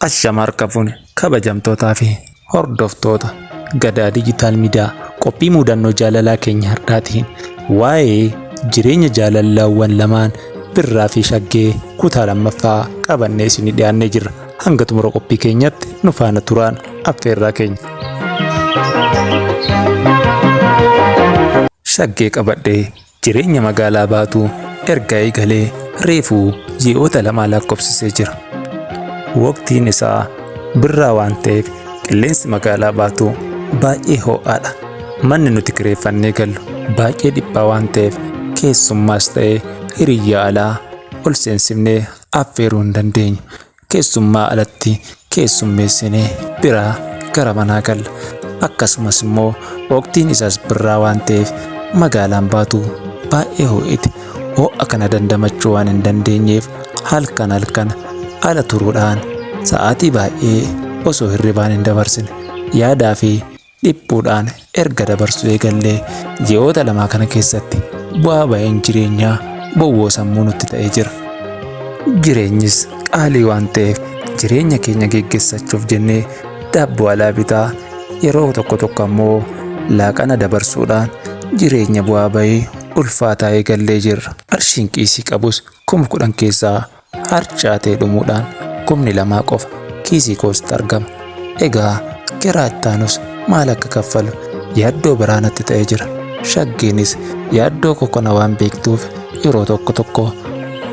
Ashama harka fuune kabajamtootaa fi hordoftoota gadaa diijitaal miidiyaa qophii muudannoo jaalalaa keenya har'aatiin waa'ee jireenya jaalalawwan lamaan birraa fi shaggee kutaa lammaffaa qabannee isinii dhiyaannee jirra. Hanga xumura qophii keenyatti nu faana turaan affeerraa keenya. Shaggee qabadhee Jireenya magaalaa Baatuu erga eegalee reefuu ji'oota lamaa lakkoofsisee jira. Waqtiin isaa birraa waan ta'eef qilleensi magaalaa Baatuu baay'ee ho'aadha. Manni nuti kireeffannee gallu baay'ee dhiphaa waan ta'eef keessummaas ta'ee hiriyyaa alaa ol seensifnee affeeruu hin dandeenyu. keessummaa alatti keessummeessine biraa gara manaa galla. Akkasumas immoo waqtiin isaas birraa waan ta'eef magaalaan baatu baay'ee ho'iti. Ho'a kana dandamachuu waan hin dandeenyeef halkan halkan ala turuudhaan sa'aatii baay'ee osoo hirribaan hin dabarsine yaadaa fi dhiphuudhaan erga dabarsuu eegallee ji'oota lamaa kana keessatti bu'aa ba'een jireenyaa bowwoo sammuu nutti ta'ee jira. Jireenyis qaalii waan ta'eef jireenya keenya geggeessachuuf jennee daabboo alaa bitaa yeroo tokko tokko ammoo laaqana dabarsuudhaan jireenya bu'aa ba'ee ulfaataa eegallee jirra. Qarshiin kiisii qabus kuma kudhan keessaa harcaatee dhumuudhaan kumni lamaa qofa kiisii kootti argama. Egaa kiraa ittaanus maal akka kaffalu yaaddoo biraa natti ta'ee jira. Shaggeenis yaaddoo koo kana waan beektuuf yeroo tokko tokko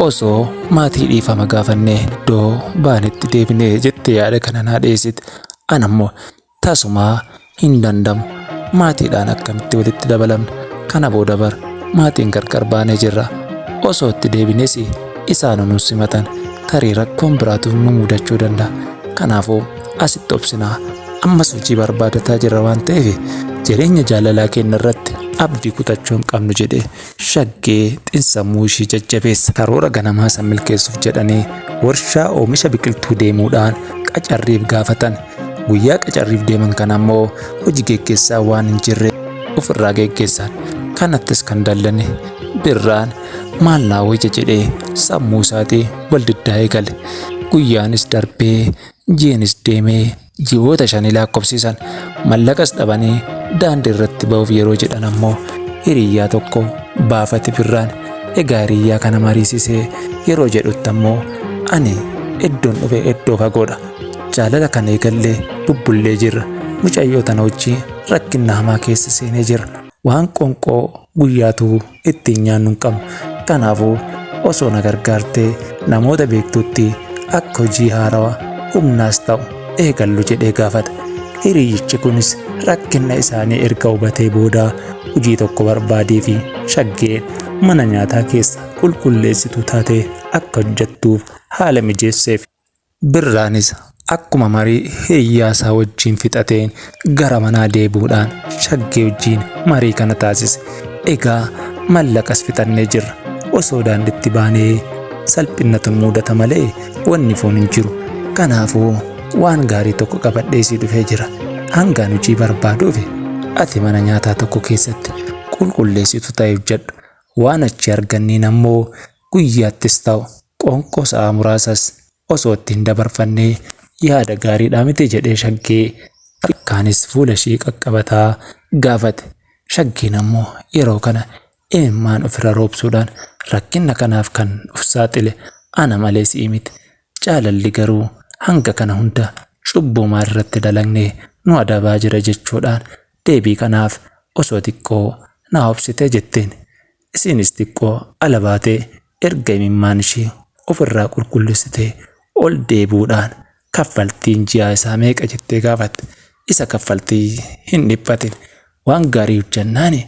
osoo maatii dhiifama gaafannee iddoo baanetti deebinee jettee yaada kana naa dhiyeessiti. Anammoo Tasumaa hin dandamu. Maatiidhaan akkamitti walitti dabalamna? Kana booda bar maatiin gargar baanee jirra. Osoo itti deebines isaanu nu simatan. Tarii rakkoon biraatu nu mudachuu danda'a. Kanaafuu asitti obsinaa. Ammas hojii barbaadataa jirra waan ta'eef jireenya jaalalaa keenya irratti abdii kutachuu hin qabnu jedhe. shaggee xinsammuu ishii jajjabeessa. Karoora ganamaa san milkeessuuf jedhanii warshaa oomisha biqiltuu deemuudhaan qacarriif gaafatan. Guyyaa qacarriif deeman kana ammoo hoji geggeessaa waan hin jirre ofirraa geggeessan. Kanattis kan dallane Birraan maal naa wayya jedhee sammuu isaatii wal diddaa eegale. Guyyaanis darbee jiinis deemee Ji'oota shanii laakkofsiisan mallaqas dhabanii daandii irratti ba'uuf yeroo jedhan ammoo hiriyyaa tokko baafate birraan egaa hiriyyaa kana mariisisee yeroo jedhutti ammoo ani iddoon dhufe iddoo fagoodha jaalala kan eegallee bubbullee jirra mucayyoo tana wajjii rakkinna hamaa keessa seenee jirra waan qonqoo guyyaatu ittiin nyaannu hin qabnu. Kanaafuu osoo na gargaartee namoota beektutti akka hojii haarawa humnaas ta'u eegallu jedhee gaafata. Hiriyyichi kunis rakkinna isaanii erga hubatee booda hojii tokko barbaadeefi Shaggee mana nyaataa keessa qulqulleessituu taatee akka hojjettuuf haala mijeesseef. Birraanis akkuma marii hiriyyaasaa wajjin fixateen gara manaa deebi'uudhaan Shaggee wajjin marii kana taasise. Egaa mallaqas fixannee jirra. Osoo daanditti baanee salphinnatu nu mudata malee wanni foon hin jiru. Kanaafuu waan gaarii tokko qabadhee si dhufee jira. Hangaan hojii barbaaduufi ati mana nyaataa tokko keessatti qulqulleessitu ta'e hojjedhu. Waan achi arganneen ammoo guyyaattis ta'u Qoonqoo sa'aa muraasas osoo itti hin dabarfannee yaada gaariidhaa miti jedhee Shaggee harkaanis fuula ishee qaqqabataa gaafate. Shaggeen ammoo yeroo kana imimmaan ofirra roobsuudhaan rakkinna kanaaf kan of saaxile ana malee si'i miti. Jaalalli garuu hanga kana hunda cubbuu maal irratti dalagne nu adabaa jira jechuudhaan deebii kanaaf osoo xiqqoo naa obsitee jetteen. Ishiinis xiqqoo ala baatee erga imimmaan ishii of irraa qulqullessitee ol deebi'uudhaan kaffaltiin ji'aa isaa meeqa jettee gaafatte. Isa kaffaltii hin dhiphatin waan gaarii hojjannaani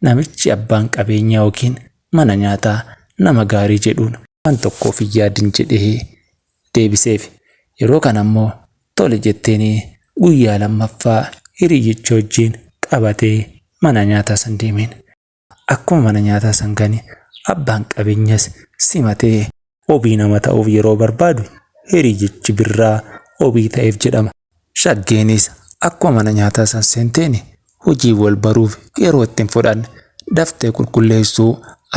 namichi abbaan qabeenyaa yookiin mana nyaataa nama gaarii jedhuun waan tokko of hin yaadin jedhee deebiseef. Yeroo kana immoo tole jetteenii guyyaa lammaffaa hiriyyicha wajjin qabatee mana nyaataa san deemeen. Akkuma mana nyaataa san gane abbaan qabeenyas simate. Obii nama ta'uuf yeroo barbaadu hiriyichi birraa obii ta'eef jedhama. Shaggeenis akkuma mana nyaataa san seenteen hojii wal baruuf yeroo itti hin fudhanne. Daftee qulqulleessuu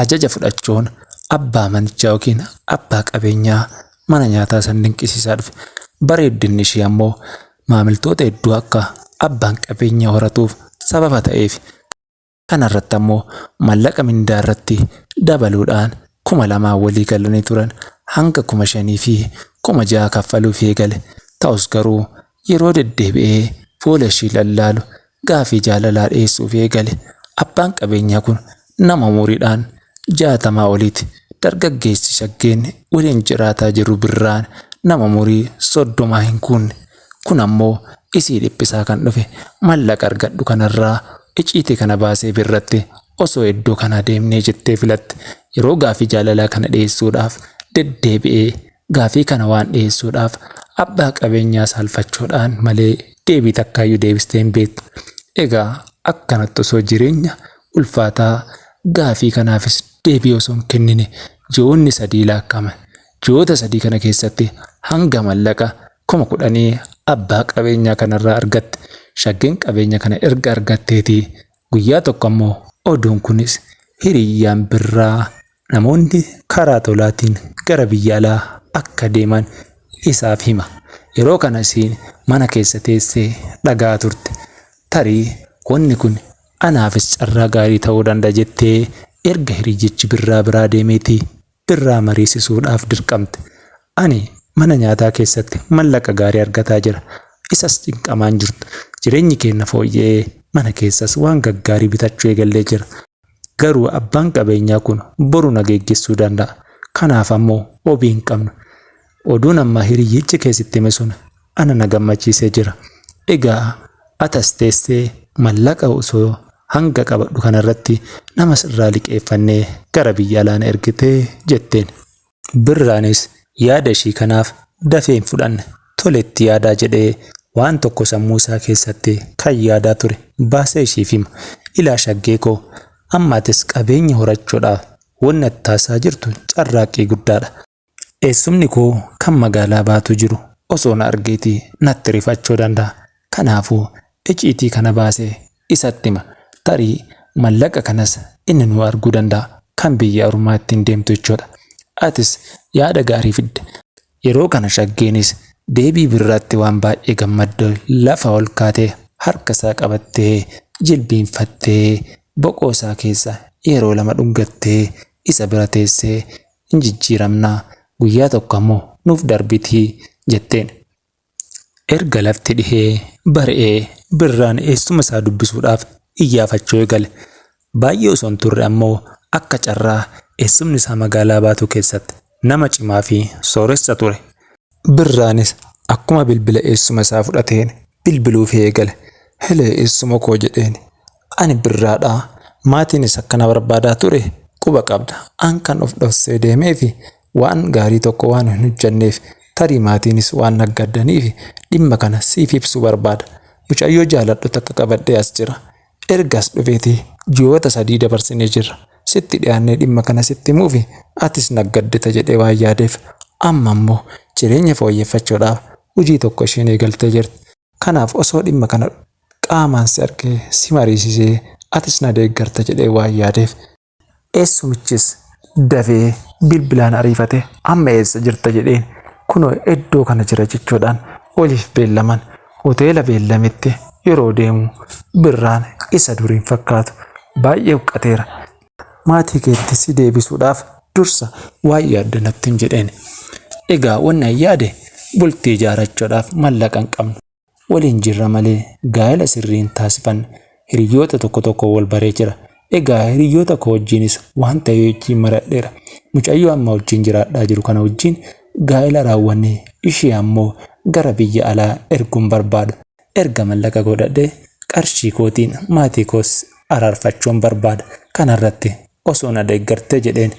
ajaja fudhachuun abbaa manichaa yookiin abbaa qabeenyaa mana nyaataa san dinqisiisaa dhufe. Bareeddinni ishii ammoo maamiltoota hedduu akka abbaan qabeenyaa horatuuf sababa ta'eefi. Kana irratti ammoo mallaqa mindaa irratti dabaluudhaan kuma lamaan walii galanii turan hanga kuma shanii fi kuma ja'a kaffaluufii eegale. Ta'us garuu yeroo deddeebi'ee fuula ishii lallaalu gaaffii jaalalaa dhiyeessuufii eegale. Abbaan qabeenyaa kun nama umuriidhaan jaatamaa oliiti. Dargaggeessi shaggeen waliin jiraataa jiru Birraan nama umurii soddomaa hin guunne. Kun ammoo isii dhiphisaa kan dhufe mallaqa argadhu kanarraa iciiti kana baasee birratte osoo iddoo kanaa deemnee jettee filatte yeroo gaafii jaalalaa kana dhiyeessuudhaaf deddeebi'ee gaafii kana waan dhiyeessuudhaaf abbaa qabeenyaa saalfachuudhaan malee deebii takkaayyuu deebistee hin beektu egaa akkanatti osoo jireenya ulfaataa gaafii kanaafis deebii osoo hin kennine ji'oonni sadii laakka'aman ji'oota sadii kana keessatti hanga mallaqa kuma kudhanii abbaa qabeenyaa kanarraa argatte. Shaggeen qabeenya kana erga argatteetii guyyaa tokko ammoo oduun kunis hiriyyaan birraa namoonni karaa tolaatiin gara biyya alaa akka deeman isaaf hima. Yeroo kana isiin mana keessa teessee dhaga'aa turte. Tarii wanni kun anaafis carraa gaarii ta'uu danda'a jettee erga hiriyyichi birraa biraa deemeetii irraa mariisisuudhaaf dirqamte. Ani mana nyaataa keessatti mallaqa gaarii argataa jira, isas cinqamaan jirtu. Jireenyi keenna fooyya'ee, mana keessas waan gaggaarii bitachuu eegallee jira. Garuu abbaan qabeenyaa kun boru na geeggessuu danda'a. Kanaaf ammoo obii hin qabnu. Oduun amma hiriyyichi kee sitti hime sun ana na gammachiisee jira. Egaa ati as teessee mallaqa osoo hanga qabadhu kanarratti nama sirraa liqeeffannee gara biyya alaa na ergite jetteen. Birraanis yaada ishii kanaaf dafee hin fudhanne. Tole itti yaadaa jedhee waan tokko sammuu isaa keessatti kan yaadaa ture baasee ishiif hima. Ilaa Shaggee koo amma atis qabeenya horachuudhaaf wanni ati taasisaa jirtu carraaqqii guddaadha. Eessumni koo kan magaalaa Baatuu jiru osoo na argeeti natti rifachuu danda'a. Kanaafuu iciitii kana baasee isatti hima. Tarii mallaqa kanas inni nuu arguu danda'a. Kan biyya ormaa ittiin deemtu jechuudha. Atis yaada gaarii fidde. Yeroo kana Shaggeenis deebii Birraatti waan baay'ee gammadde lafa ol kaatee harka isaa qabattee jilbiinfattee boqoo isaa keessa yeroo lama dhungattee isa bira teessee in jijjiiramna, guyyaa tokko ammoo nuuf darbiti jetteen. Erga lafti dhihee bari'ee Birraan eessuma isaa dubbisuudhaaf iyyaafachuu eegale. Baay'ee osoo hin turre ammoo akka carraa eessumni isaa magaalaa Baatuu keessatti nama cimaa fi sooressa ture. Birraanis akkuma bilbila eessuma isaa fudhateen bilbiluufii eegale. Helee eessuma koo jedheen. Ani birraadha. Maatiinis akka na barbaadaa ture quba qabda. An kan of dhoksee deemeefi waan gaarii tokko waan hin hojjanneef tarii maatiinis waan naggaddaniifi dhimma kana siif ibsuu barbaada. Mucayyoo jaaladhu takka qabadhee as jira. Erga as dhufeeti ji'oota sadii dabarsinee jirra. Sitti dhiyaannee dhimma kana sitti himuufi atis naggaddita jedhee waan yaadeef. Amma immoo jireenya fooyyeffachuudhaaf hojii tokko isheen eegaltee jirti. Kanaaf osoo dhimma kana qaamaan si argee si mariisisee atis na deeggarta jedhee waan yaadeef eessumichis dafee bilbilaan ariifatee amma eessa jirta jedheen kunoo eddoo kana jira jechuudhaan waliif beellaman hoteela beellametti yeroo deemu Birraan isa duriin fakkaatu baay'ee huqqateera maatii keetti si deebisuudhaaf dursa waan yaaddu nattin jedheen. Egaa wanni an yaade bultii ijaarachuudhaaf mallaqa hin qabnu. Waliin jirra malee gaa'ela sirrii hin taasifanne. Hiriyyoota tokko tokkoon wal baree jira. Egaa hiriyyoota koo wajjiinis waan ta'e wajjiin maradheera. Mucayyoo amma wajjiin jiraadhaa jiru kana wajjiin gaa'ela raawwannee ishee ammoo gara biyya alaa erguun barbaada. Erga mallaqa godhadhe qarshii kootiin maatii koos araarfachuun barbaada. Kanarratti osoo na deeggartee jedheen.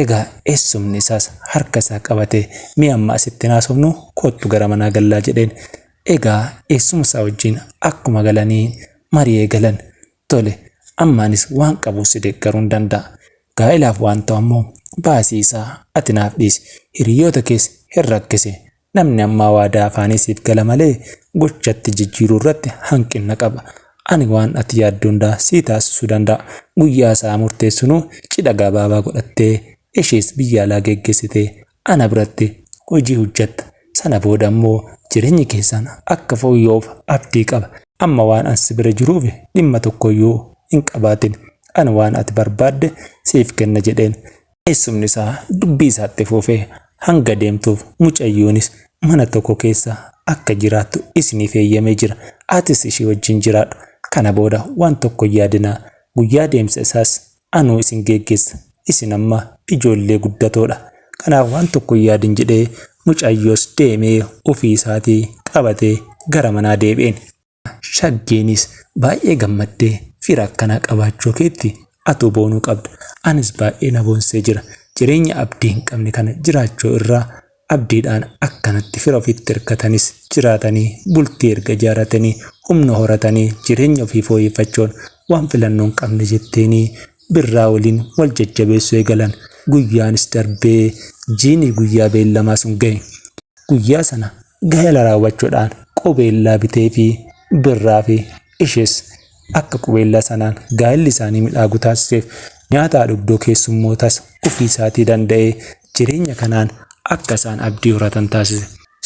Egaa eessumni isaas harka isaa qabatee mee amma asitti hin haasofnu koottu gara manaa gallaa jedheen. Egaa eessuma isaa wajjin akkuma galanii marii eegalan. Tole amma anis waan qabuun si deeggaruun danda'a. Gaa'elaaf waan ta'u ammoo baasii isaa ati naaf dhiisi. Hiriyyoota kees hin rakkisi. Namni ammaa waadaa afaanii siif gala malee gochatti jijjiiruu irratti hanqinna qaba. Ani waan ati yaaddu hundaa sii taasisuu danda'a. Guyyaa sa'aa murteessinuu cidha gabaabaa godhattee ishees biyya alaa geggeessitee ana biratti hojii hojjatta. Sana booda ammoo jireenyi keessan akka fooyya'uuf abdii qaba. Amma waan an si bira jiruuf dhimma tokkoyyuu hin qabaatin. Ani waan ati barbaadde siif kenna jedheen. Eessumni isaa dubbii isaa itti fufee hanga deemtuuf mucayyoonis mana tokko keessa akka jiraattu isiniif heeyyamee jira. Atis ishii wajjin jiraadhu. Kana booda waan tokko hin yaadinaa. Guyyaa deemsa isaas anuu isin geeggeessa. Isin amma ijoollee guddatoo dha. Kanaaf waan tokko hin yaadin jedhee mucayyoos deemee ofii isaatii qabatee gara manaa deebi'een. Shaggeenis baay'ee gammaddee fira akkanaa qabaachuu keetti atuu boonuu qabda. Anis baay'ee na boonsee jira. Jireenya abdii hin qabne kana jiraachuu irraa abdiidhaan akkanatti fira ofitti hirkatanis jiraatanii bultii erga ijaaratanii humna horatanii jireenya ofii fooyeffachuun waan filannoo hin qabne jetteenii birraa waliin wal jajjabeessuu eegalan. Guyyaanis darbee jiini guyyaa beellamaa sun gahe. Guyyaa sana Gaa'ela raawwachuudhaan qubeellaa biteefi birraafi ishees akka qubeellaa sanaan gaa'elli isaanii midhaagu taasiseef nyaata haadhugdoo keessummootas ofiisaatii danda'ee jireenya kanaan akka isaan abdii horatan taasise.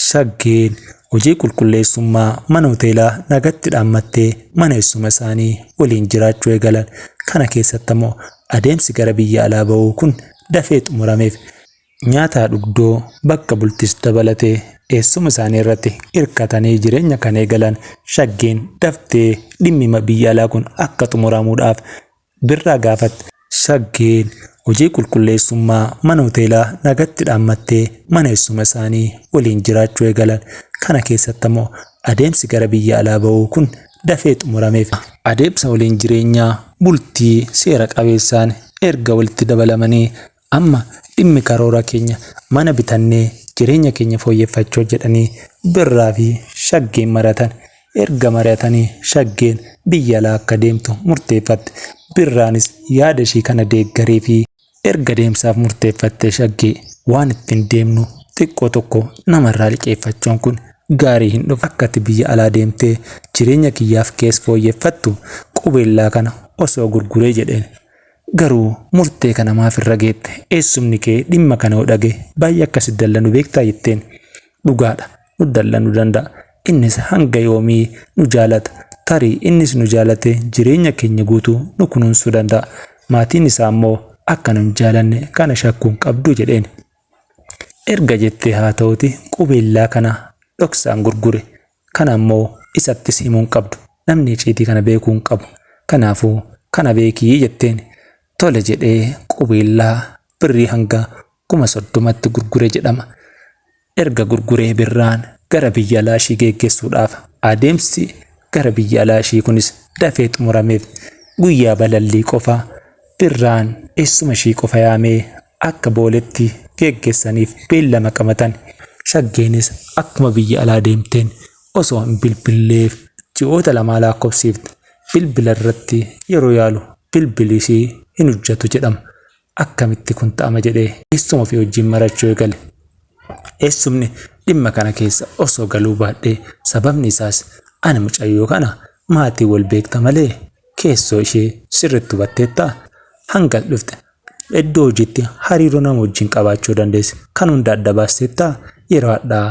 Shaggeen hojii qulqulleessummaa mana hoteelaa nagatti dhaammattee mana eessuma isaanii waliin jiraachuu eegalan. Kana keessatti ammoo adeemsi gara biyya alaa ba'uu kun dafee xumurameef. nyaataa dhugdoo, bakka bultis dabalatee eessuma isaanii irratti irkatanii jireenya kan eegalan Shaggeen daftee dhimmima biyya alaa kun akka xumuramuudhaaf Birraa gaafatte. Shaggeen hojii qulqulleessummaa mana hoteelaa nagatti dhaammattee mana eessuma isaanii waliin jiraachuu eegalan. Kana keessatti ammoo adeemsi gara biyya alaa ba'uu kun dafee xumurameef. Adeemsa waliin jireenyaa bultii seera qabeessaan erga walitti dabalamanii Amma dhimmi karoora keenya mana bitannee jireenya keenya fooyyeffachuu jedhanii Birraa fi Shaggeen mari'atan. Erga mari'atanii Shaggeen biyya alaa akka deemtu murteeffatte. Birraanis yaada ishii kana deeggareefii. Erga deemsaaf murteeffattee Shaggee waan ittiin deemnu xiqqoo tokko namarraa liqeeffachuun kun gaarii hin dhufu. Akka ati biyya alaa deemtee jireenya kiyyaaf kees fooyyeffattu qubeellaa kana osoo gurguree jedheen. Garuu murtee kana maaf irra geette? Eessumni kee dhimma kana yoo dhagahe baay'ee akka si dallanu beektaa? jetteen. Dhugaadha, nu dallanuu danda'a. Innis hanga yoomii nu jaalata? Tarii innis nu jaalatee jireenya keenya guutuu nu kunuunsuu danda'a. Maatiin isaa immoo akka nu hin jaalanne kana shakkuu hin qabdu jedheen. Erga jettee haa ta'uutii qubeellaa kana dhoksaan gurgure. Kana ammoo isattis himuu hin qabdu. Namni iciitii kana beekuu hin qabu. Kanaafuu kana beeki jetteen. Tole jedhee qubeellaa birrii hanga kuma soddomatti gurgure jedhama. Erga gurguree birraan gara biyya alaa ishii geeggeessuudhaaf adeemsi gara biyya alaa ishii kunis dafee xumurameef. Guyyaa balallii qofa birraan eessuma ishii qofa yaamee akka booletti geeggessaniif beellama qabatan. Shaggeenis akkuma biyya alaa deemteen osoo hin bilbilleef ji'oota lamaa laakkofsiifte. Bilbila irratti yeroo yaalu bilbili ishii hin hujjatu jedhama. Akkamitti kun ta'ama jedhee eessuma ofii wajjin marachuu eegale. Eessumni dhimma kana keessa osoo galuu baadhee sababni isaas ani mucayyoo kana maatii wal beekta malee keessoo ishee sirritti hubatteettaa? Hanga as dhufte Iddoo hojiitti hariiroo nama wajjin qabaachuu dandeessu kan hunda adda baasteettaa? Yeroo hadhaa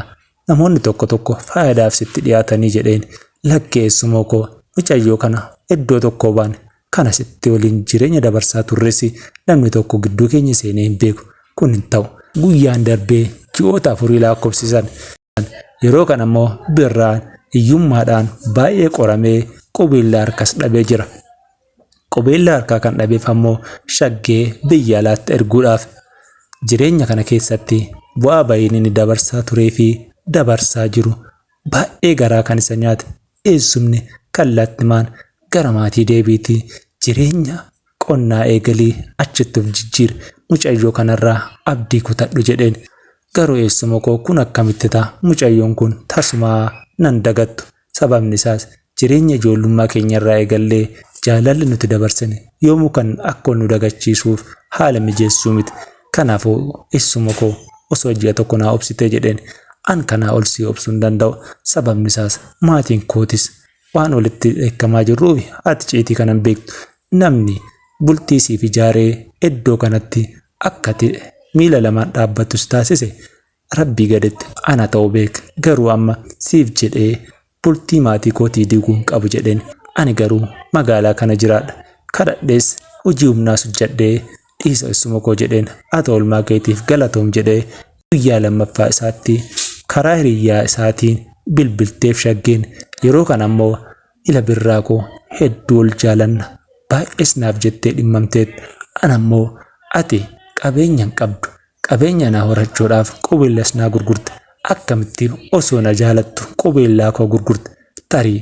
namoonni tokko tokko faayadaaf sitti dhiyaatanii jedheen lakkee eessumoo koo micayyoo kana iddoo tokkoo baane kana sitti waliin jireenya dabarsaa turresi namni tokko gidduu keenya seenee hin beeku kun hin ta'u guyyaan darbee ji'oota afurii laakkofsisan yeroo kana immoo birraan hiyyummaadhaan baay'ee qoramee qubeellaa harkas dhabee jira. Qubeellaa harkaa kan dhabeef ammoo shaggee biyya alaatti erguudhaaf jireenya kana keessatti bu'aa ba'iin inni dabarsaa turee fi dabarsaa jiru baay'ee garaa kan isa nyaate eessumni kallattimaan gara maatii deebiitii jireenya Qonnaa eegalii achitti of jijjiiri. Mucayyoo kanarraa abdii kutadhu jedheen. Garuu eessuma koo kun akkamitti ta'a? Mucayyoon kun tasumaa nan dagattu. Sababni isaas jireenya ijoollummaa keenyarraa eegallee jaalalli nuti dabarsine yoomuu kan akka ol nu dagachiisuuf haala mijeessu miti. Kanaafuu eessuma koo osoo ji'a tokko naa obsitee jedheen. An kanaa ol si obsuu hin danda'u. Sababni isaas maatiin kootis Waan olitti dheekkamaa jirruuf ati ciitii kana hin beektu. Namni bultii siif ijaaree iddoo kanatti akkati miila lamaan dhaabbattu si taasise rabbii gaditti ana ta'u beek. Garuu amma siif jedhee bultii maatii kootii diiguu hin qabu jedheen. Ani garuu magaalaa kana jiraadha. Kadhadhees hojii humnaas hojjedhee dhiisa issuma koo jedheen ati oolmaa keetiif galatoom jedhee guyyaa lammaffaa isaatti karaa hiriyyaa isaatiin bilbilteef shaggeen yeroo kana ammoo ila birraa koo hedduu ol jaalanna baay'ees naaf jettee dhimmamteet an ammoo ati qabeenya hin qabdu Qabeenya naa horachuudhaaf qubeellas naa gurgurta akkamittiin osoo na jaalattu qubeellaa koo gurgurta tarii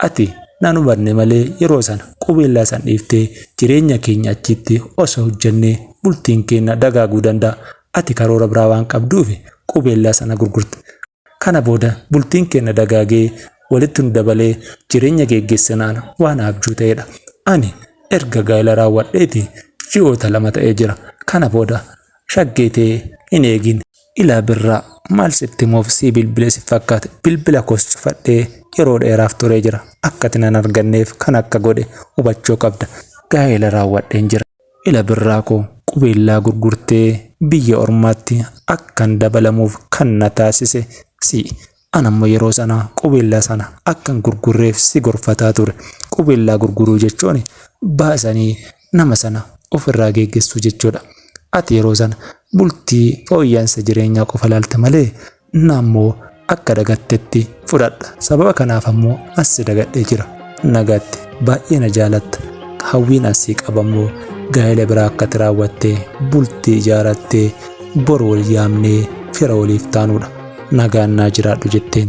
ati nan hubanne malee yeroo sana qubeellaa san dhiiftee jireenya keenya achiitti osoo hojjannee bultiin keenna dagaaguu danda'a ati karoora biraa waan qabduufi qubeellaa sana gurgurta Kana booda bultiin keenna dagaagee walitti nu dabalee jireenya geeggeessinaan waan abjuu ta'eedha. Ani erga gaa'ila raawwadheeti ji'oota lama ta'ee jira. Kana booda shaggee tee hin eegin. Ilaa Birraa maal sitti himuuf sii bilbile si fakkaate bilbila koos cufadhee yeroo dheeraaf turee jira. Akka ati nan arganneef kan akka godhe hubachuu qabda. Gaa'ila raawwadheen jira. Ila birraa koo qubeellaa gurgurtee biyya ormaatti akkan dabalamuuf kan na taasise si. An ammoo yeroo sana qubeellaa sana akkan gurgurreef si gorfataa ture. Qubeellaa gurguruu jechuun baasanii nama sana ofirraa geeggessuu jechuudha. Ati yeroo sana bultii fooyya'iinsa jireenyaa qofa ilaalta malee na ammoo akka dagattetti fudhadha sababa kanaaf ammoo assi dagadhee jira nagaatti baay'ee na jaalatta hawwiin assii qaba ammoo gaa'ela biraa akkati raawwattee bultii ijaarattee bor wal yaamnee fira waliif taanuudha nagaan naa jiraadhu jetteen